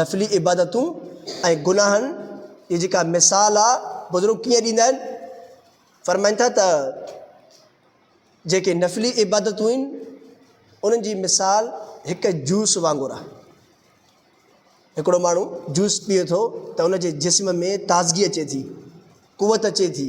نفلي عبادتون ۽ گناهن جي جيڪا مثال آ بزرگ ڪيئن ڏيندا آهن فرمائن ٿا ته جيڪي نفلي عبادتون آهن انهن جي مثال هڪ جوس وانگر آ هڪڙو ماڻهو جوس پيئي ٿو ته ان جي جسم ۾ تازگي اچي ٿي قوت اچي ٿي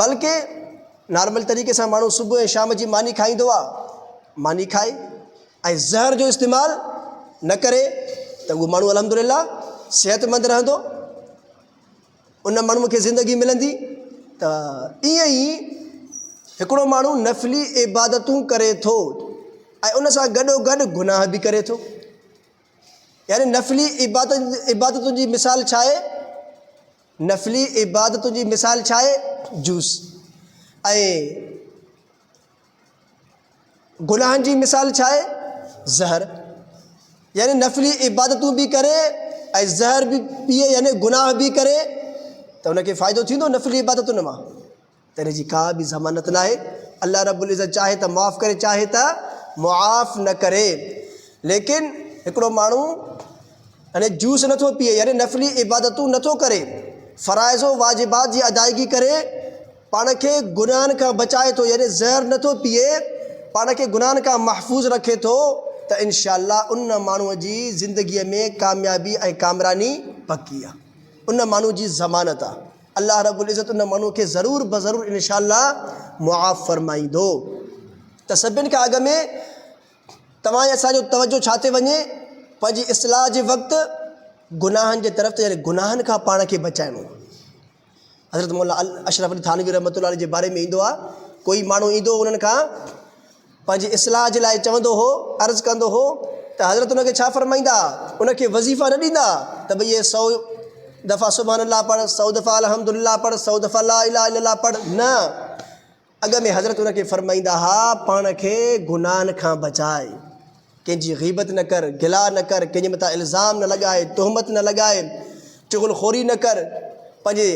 بلڪه نارمل طريقي سان ماڻهو صبح ۽ شام جي ماني کائيندو آهي، ماني کائي ۽ زهر جو استعمال نه ڪري ته اهو ماڻهو الحمدلله صحتمند رهندو، ان ماڻهوء کي زندگي ملندي ته ائين ئي هڪڙو ماڻهو نفلي عبادتون ڪري ٿو ۽ ان سان گڏو گڏ گناهه به ڪري ٿو يعني نفلي عبادت عبادتن جي مثال ڇا آهي؟ نفلي عبادتن جي مثال ڇا آهي؟ جوس ۽ گناهن جي مثال ڇا آهي؟ زهر يعني نفلي عبادتون به ڪري ۽ زهر به پيئي يعني گناهه به ڪري ته ان کي فائدو ٿيندو نفلي عبادتن مان؟ تنهن جي ڪا به ضمانت ناهي. الله رب العزت چاهي ته معاف ڪري چاهي ته معاف نه ڪري. ليڪن هڪڙو ماڻهو يعني جوس نه ٿو پيئي يعني نفلي عبادتون نه ٿو ڪري فرائض و واجبات جي ادائيگي ڪري پاڻ کي گناهن کان بچائي ٿو يعني زهر نه ٿو پيئي پاڻ کي گناهن کان محفوظ رکي ٿو ته انشاء الله ان ماڻهو جي زندگي ۾ ڪاميابي ۽ ڪامراني پڪي آهي. ان ماڻهو جي ضمانت آهي. الله رب العزت ان ماڻهوء کي ضرور بضرور ان شاء الله معاف فرمائيندو. ته سڀن کان اڳ ۾ توهان ۽ اسان جو توجهه ڇا تي وڃي؟ پنهنجي اصلاح جي وقت گناهن جي طرف ته يعني گناهن کان پاڻ کي بچائڻو. حضرت مولا اشرف علي ٿانوي رحمة الله عليه جي باري ۾ ايندو آهي ڪوئي ماڻهو ايندو هو انهن کان پنهنجي اصلاح جي لاء چوندو هو، عرض ڪندو هو ته حضرت ان کي ڇا فرمائيندا، ان کي وظيفا نه ڏيندا ته ڀئي اهي سؤ دفعا سبحان الله پڙهه، سؤ دفعا الحمد لله پڙهه، سؤ دفعا لا اله الا الله پڙهه، نه! اڳ ۾ حضرت ان کي فرمائيندا ها، پاڻ کي گناهن کان بچاء. ڪنهن جي غيبت نه ڪر، گلا نه ڪر، ڪنهن جي مٿان الزام نه لڳاء، تهمت نه لڳاء، چغل خوري نه ڪر، پنهنجي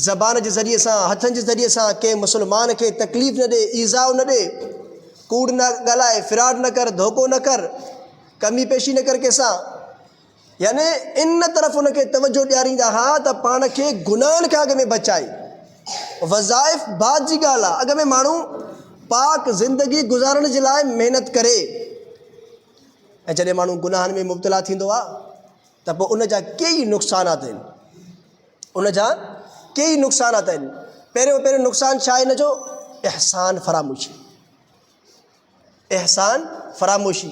زبان جي ذريعي سان، هٿن جي ذريعي سان ڪنهن مسلمان کي تڪليف نه ڏي، ايذاء نه ڏي، ڪوڙ نه ڳالهاء، فراڊ نه ڪر، ڌوڪو نه ڪر، ڪمي پيشي نه ڪر ڪنهن سان. يعني ان طرف ان کي توجهه ڏياريندا ها ته پاڻ کي گناهن کان اڳ ۾ بچائي. وظائف بعد جي ڳالهه آهي، اڳ ۾ ماڻهو پاڪ زندگي گذارڻ جي لاء محنت ڪري ۽ جڏهن ماڻهو گناهن ۾ مبتلا ٿيندو آهي ته پوء ان جا ڪيئي نقصانات آهن. ان جا ڪيئي نقصانات آهن. پهريون پهريون نقصان ڇا آهي ان جو؟ احسان فراموشي. احسان فراموشي.